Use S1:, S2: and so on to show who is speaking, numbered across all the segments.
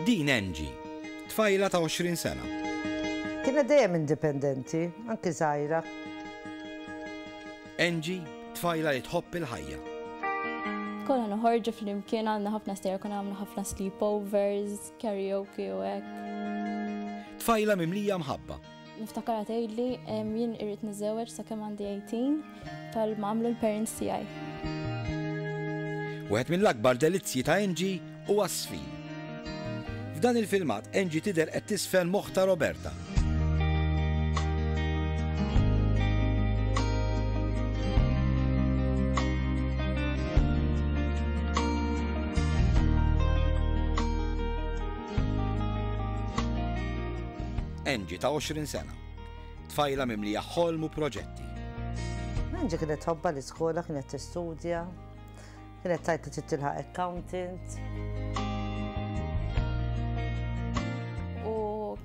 S1: Din Angie, tfajla ta' 20 sena. Kienet dejjem indipendenti, anki żgħira. Angie, tfajla li tħobb il-ħajja. Konna noħorġu flimkien għamilna ħafna stejjer, konna għamilna ħafna sleepovers, karaoke u hekk. Tfajla mimlija mħabba. Niftakarha tgħidli jien irrid niżżewweġ sakemm għandi 18 bħal ma għamlu l-parents tiegħi. Wieħed mill-akbar delizzji ta' Angie huwa s-sfin. F'dan il-filmat Angie tidher qed tisfen moħħ ta' Roberta. Angie ta' 20 sena. Tfajla mimlija ħolm u proġetti. Angie kienet tħobbha l-iskola, kienet tistudja, kienet tgħid li trid tilħaq accountant. U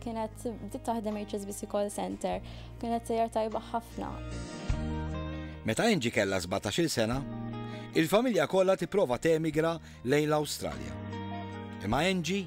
S1: kienet bdiet taħdem HSBC call center, kienet sejjer tajba ħafna. Meta Angie kellha 17-il sena, il-familja kollha tipprova temigra lejn l-Awstralja. Imma Angie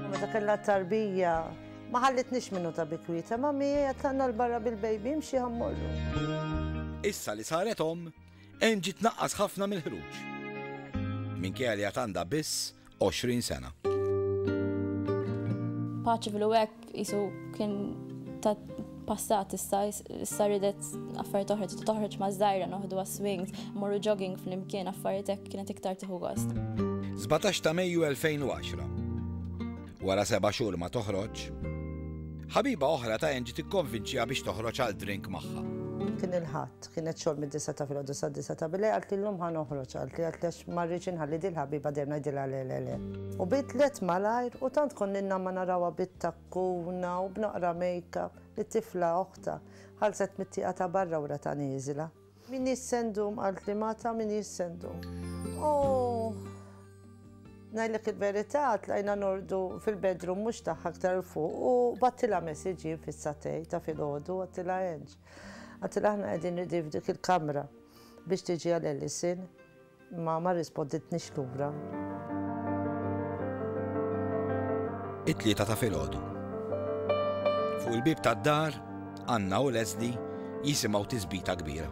S1: Meta kellha tarbija ma ħallitniex minnu ta' bikwieta ma mija tlaqna l-barra bil-bejbi mxi ħammorru. Issa li saret om, Angie tnaqqas ħafna mill-ħruġ. Minkejja li għatanda biss 20 sena. Paċi fil-wek jisu kien ta' passat issa issa ridet affarijiet oħra tista' toħroġ ma' żgħira noħdu swings, morru jogging flimkien affarijiet hekk kienet iktar tieħu gost. 17 ta' Mejju 2010. Wara seba' xhur ma toħroġ, ħabiba oħra ta' Angie tikkonvinċiha biex toħroġ għal drink magħha. Kien il-ħadd, kienet xogħol mid-disa ta' filgħodu sa' disa ta' bilej għalt li llum ħa noħroġ għalt li għalt lex ma rridx inħalli dil-ħabiba dejjem ngħidilha le le le. U bidlet malajr u tant konninna ma narawha bit-ta' Kuna u b'naqra make-up, it-tifla oħtha, ħarset mit-tieqa ta' barra u ratha nieżla. M'iniex se ndum, qaltli Mata, m'iniex se ndum. Ohh! Ngħidlek il-verità, tlajna norqdu fil-bedroom mhux tagħha aktar 'l fuq u bgħattilha message jien fis-satej ta' filgħodu, għattilha Ange. Għattilha aħna qegħdin ready f'dik il-kamra biex tiġi għal Ellison. Imma ma rrisponditnix lura. It-tlieta ta' filgħodu. Fuq il-bieb tad-dar, Anna u Leslie jisimgħu tisbita kbira.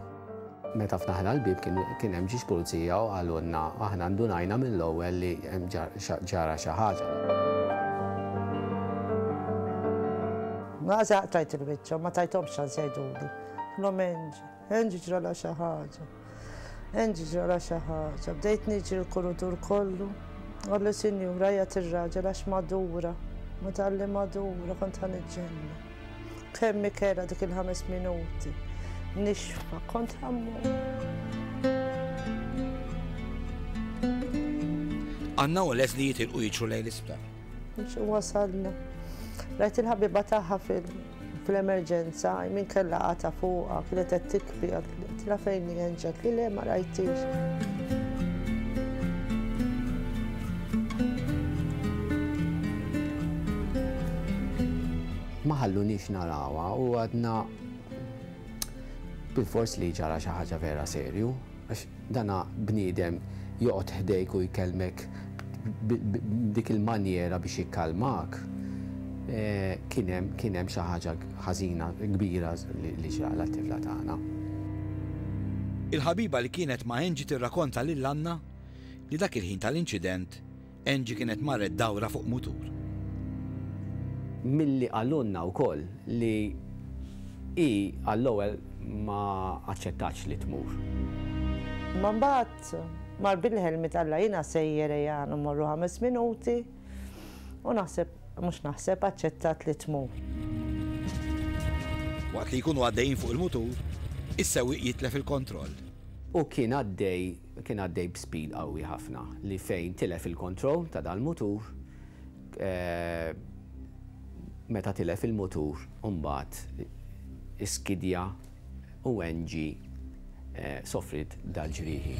S1: Meta ftaħna l-bieb kien hemm ġiex pulizija u qalulna, aħna ndunajna mill-ewwel li ġara xi ħaġa. Naqża qtajt il-wiċċ u ma tajthomx ċans jgħiduli. Kellhom Angie ġralha xi ħaġa. Angie ġralha xi ħaġa. Bdejt niġri l-kurutur kollu. Għallu sinjura jgħat ir-raġel għax madura. Ma talli madura kont ħan iġġenna. Kemm ikela dik il-ħames minuti. Nixfa kont ħammur. Għanna u les li jitilqu jiġu lejn l-isptar. Wasalna. Rajt il-ħabiba taħħa fil- fl-emerġenza, min kellha qata fuqha, kienet qed tikbi, għatla fejn li jenġet li le ma rajtix. Ma ħallunix narawa u għadna bil-fors li ġara xi ħaġa vera serju. Għax dana bniedem joqgħod ħdejk u jkellmek b'dik il-manjera biex jikkalmak, kien hemm, kien hemm xi ħaġa ħażina kbira li ġra lat-tifla tagħna. Il-ħabiba li kienet ma' Angie tirrakonta lil Anna li dak il-ħin tal-inċident Angie kienet marret dawra fuq mutur. Milli qalulna wkoll li hi għall-ewwel ma aċċettatx li tmur. Imma mbagħad mar bil-ħelmiet Alla jiena sejjer ejja mmorru ħames minuti u naħseb, mhux naħseb, aċċettat li tmur. Waqt li jkunu għaddejjin fuq il-mutur, is-sewwieq jitlef il-kontroll. U kien għaddej Kien għaddej b'speed qawwi ħafna li fejn tilef il-kontroll ta' dal-mutur, meta tilef il-mutur imbagħad iskidja u Angie sofriet dal-ġrieħi.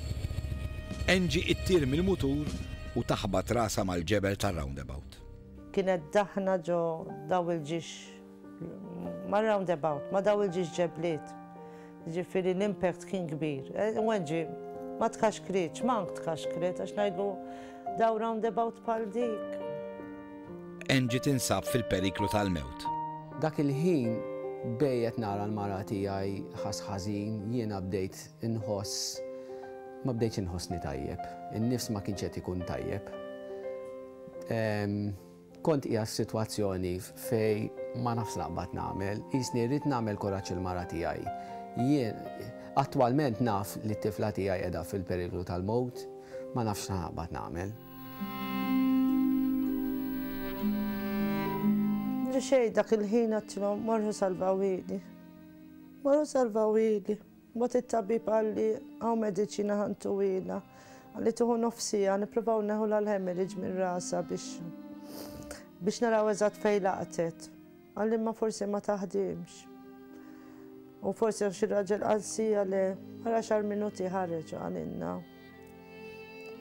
S1: Angie ittir mill-mutur u taħbat rasha mal-ġebel tar-roundabout. Kienet daħna ġo dawl-ġixx Ma' roundabout, ma' daw il-ġiex ġebliet. Jiġifieri l-impact kien kbir. Weġġi ma tkaxkritx, mank tkaxkret għax ngħidlu daw roundabout bħal dik. Angie tinsab fil-periklu tal-mewt. Dak il-ħin bejn qed nara l-mara tiegħi ħass ħażin, jiena bdejt inħoss ma bdejtx inħossni tajjeb. In-nifs ma kienx qed ikun tajjeb. Kont qiegħed f'sitwazzjoni fejn ma nafx x'naqbad nagħmel, qisni rrid nagħmel kuraġġ il-mara tiegħi. Jien, attwalment naf li t-tifla tiegħi qiegħda fil-periklu tal-mewt, ma nafx x'naqbad nagħmel. Li xejn dak il-ħin għedtilhom, 'Morħu salvaw ili. Morħu salvaw ili. Mbagħad it-tabib qalli, hawn mediċina ħa ntuhielha. Qalli tieħu nofs siegħa, nippruvaw neħulha l-hemorrhage minn rasha biex biex naraw eżatt fejn laqtet. Qalli imma forsi ma taħdimx. U forsi għax ir-raġel qal siegħa le, wara xahar minuti ħareġ u qalilna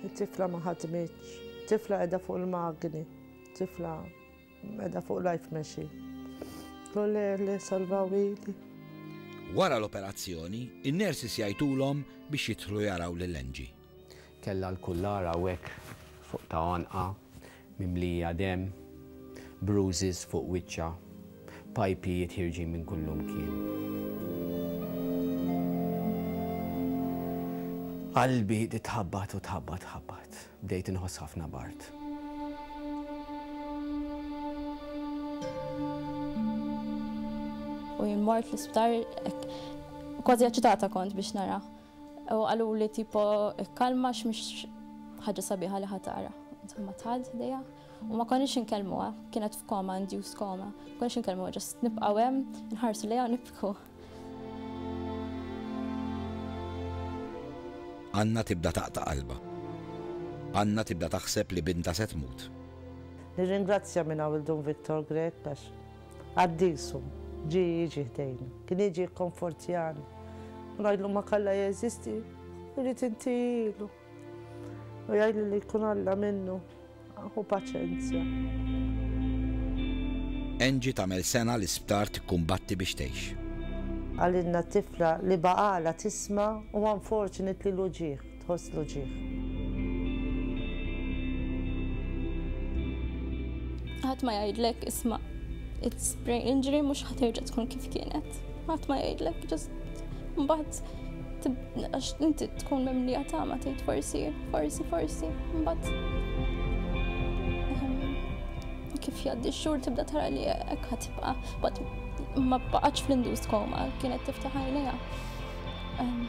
S1: it-tifla ma ħadmitx. Tifla qiegħda fuq il-magni. Tifla. Meda fuq life mexi. L-oler li salvaw ili. Wara l-operazzjoni, in-nurses jgħidulhom biex jidħlu jaraw lil Angie. Kellha l-kullar hawnhekk fuq ta' għonqha mimlija demm, bruises fuq wiċċha, pajpijiet ħierġin minn kullumkien. Qalbi titħabbat u tħabbat tħabbat. Bdejt inħoss ħafna b'art. U jien mort l-isptar kważi aċitata kont biex nara. U għallu li tipo kalma x'mhix ħaġa sabiħa li ħatara. Insomma tħad dejja. U ma konniex inkellmuha, kienet f'koma, induced koma. Konniex inkellmuha, ġast nibqgħu hemm, nħarsu lejha u nibku. Anna tibda taqta' qalbha. Anna tibda taħseb li bintha se tmut. Nirringrazzja min hawn il-Dun Victor Grech għax qaddisu ġie jiġi ħdejna. Kien jiġi jikkonfortjani u ngħidlu Makallajeżisti, irrid intihilu. U jgħidli li jkun Alla minnu, hu paċenzja. Angie tagħmel sena l-isptar tikkumbatti biex tgħix. Qalilna t-tifla li baqgħalha tisma' u unfortunately l-uġigħ, tħoss l-uġigħ. Ħadd ma jgħidlek isma' it's brain injury mhux ħa terġa' tkun kif kienet. Ħadd ma jgħidlek just mbagħad għax inti tkun mimlija tama tgħid forsi, forsi, forsi, mbagħad ehm, kif jgħaddi x-xhur tibda tara li hekk ħatibqa' bad ma baqgħetx fl-induced koma kienet tiftaħ għajnejha. Ehm,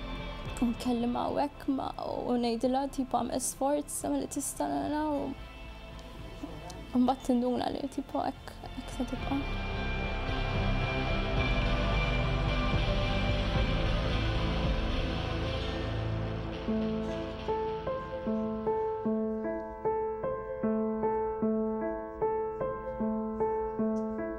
S1: nkellim hawnhekk ma u ngħidilha tip għamel sforz Sa milli tista' nara u mbagħad tinduna li tipo hekk hekk se tibqa'.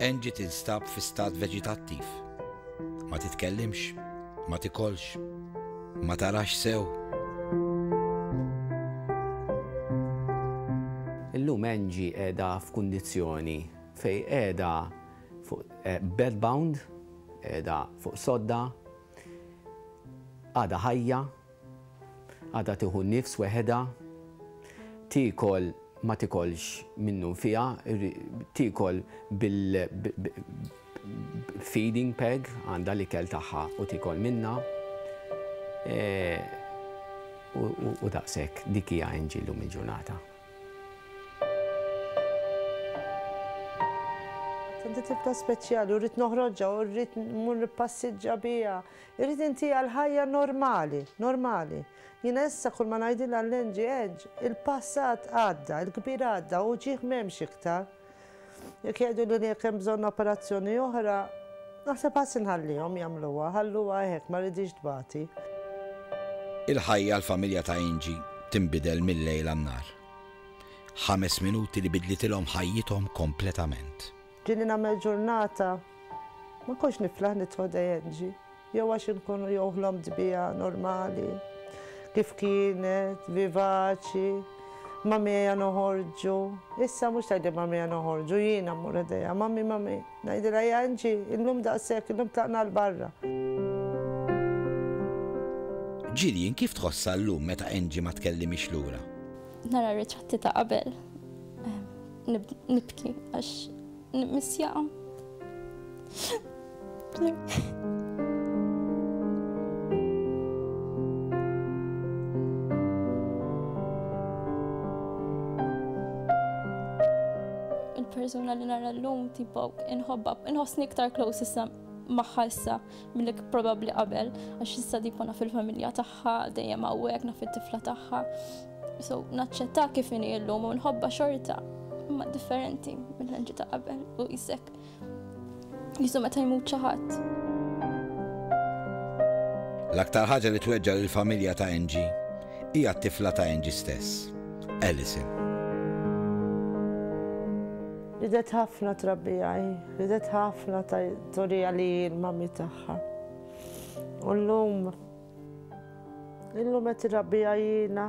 S1: Angie tinstab fi stat veġitattiv. Ma titkellimx, ma tikolx, ma tarax sew. Illum Angie qiegħda f'kundizzjoni fejn qiegħda fuq bedbound, qiegħda fuq sodda, għadha ħajja, Għadha tieħu n-nifs weħedha, tiekol ma tikolx minnu nfiha, tiekol bil feeding peg, għandha l-ikel tagħha u tiekol minnha. U daqshekk, dik hija Angie llum il-ġurnata. Għandi tifla speċjali u rrid noħroġha u rrid mmur nippassiġġa biha. Irrid inti għal ħajja normali, normali. Jiena issa kull ma ngħidilha l-Angie Ange, il-passat għadda, il-kbir għadda, u ġieħ m'hemmx iktar. Jekk jgħiduli li jekk hemm bżonn operazzjoni oħra, naħseb ħass inħallihom jagħmluha, ħalluha hekk, ma rridhiex tbati. Il-ħajja għall-familja ta' Angie tinbidel mil-lejl għan-nhar. Ħames minuti li bidlitilhom ħajjithom kompletament. Ġieli nagħmel ġurnata, ma kontx niflaħ nidħol dejjem NG. Jew għax inkunu jew ħlomt biha normali, kif kienet, vivaċi, Mammieja noħorġu. Issa mhux tgħidli Mammieja noħorġu, jiena mmur ħdejha, Mammi, Mammi. Ngħidilha ja NG, illum daqshekk, illum tlaqna għal barra. Jillian kif tħossha llum meta NG ma tkellimhiex lura? Nara ritratti ta' qabel. Nibki għax nibmissjaqa. persuna li nara l-lum tipo inħobba, inħossni iktar close issa maħħa issa mill probabli qabel, għax issa tipo naf il-familja tagħha, dejjem hawnhekk naf it-tifla tagħha. So, naċċetta kif inhi illum u nħobba xorta, imma differenti mill-ħanġi ta' qabel u jisek. Jisu meta jmut ċaħat. L-aktar ħaġa li tweġġa l-familja ta' Angie hija t-tifla ta' Angie stess, Alison. Ridet ħafna trabbijaj, ridet ħafna torija li l-mami tagħha. U l-lum Illum qed irrabbi għajjina.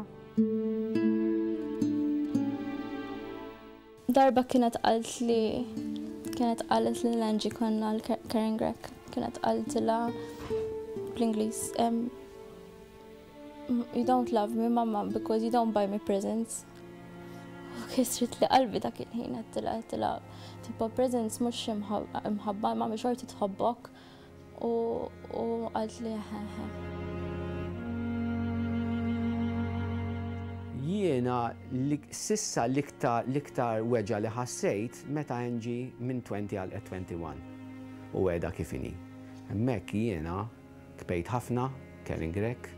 S1: Darba kienet qalt li kienet qalet li l-Anġi konna l-Karen Grek. Kienet qaltilha bl-Ingliż. You don't love me, mamma, because you don't buy me presents. U kisrit li qalbi dak il-ħin għattila għattila tipo presents mux imħabba ma mxorti tħobbok. U u għalt li ħeħe. Jiena li sissa l-iktar l-iktar weġa' li ħassejt meta Angie minn 20 għalqet 21 u qiegħda kif inhi. Hemmhekk jiena tbejt ħafna, Karen Grech,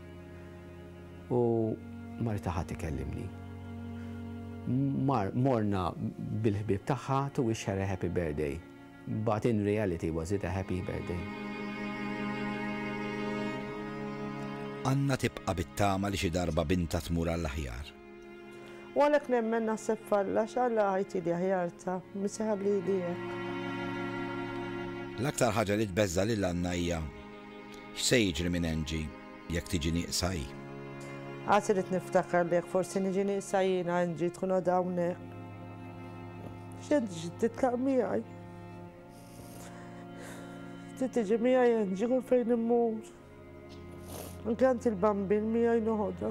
S1: u ma rtaħat ikellimni. Mar morna bil-ħbieb tagħha to wish her a happy birthday. But in reality was it a happy birthday? Anna tibqa' bit-tama li xi darba bintha tmur għall-aħjar. U għalhekk nemmen naħseb f'Alla x'Alla ħajti li aħjar ta' min seħab lili hekk. L-aktar ħaġa li tbeżża' lil Anna hija x'se jiġri minn Angie. Jekk tiġi nieqsa hi. Għad irid niftakar li jekk forsi niġi nieqsa jiena Angie tkun għadha hawnhekk. X'għed titlaq miegħi. Trid tiġi miegħi Angie kull fejn immur. Inkant il-bambin miegħi noħodha.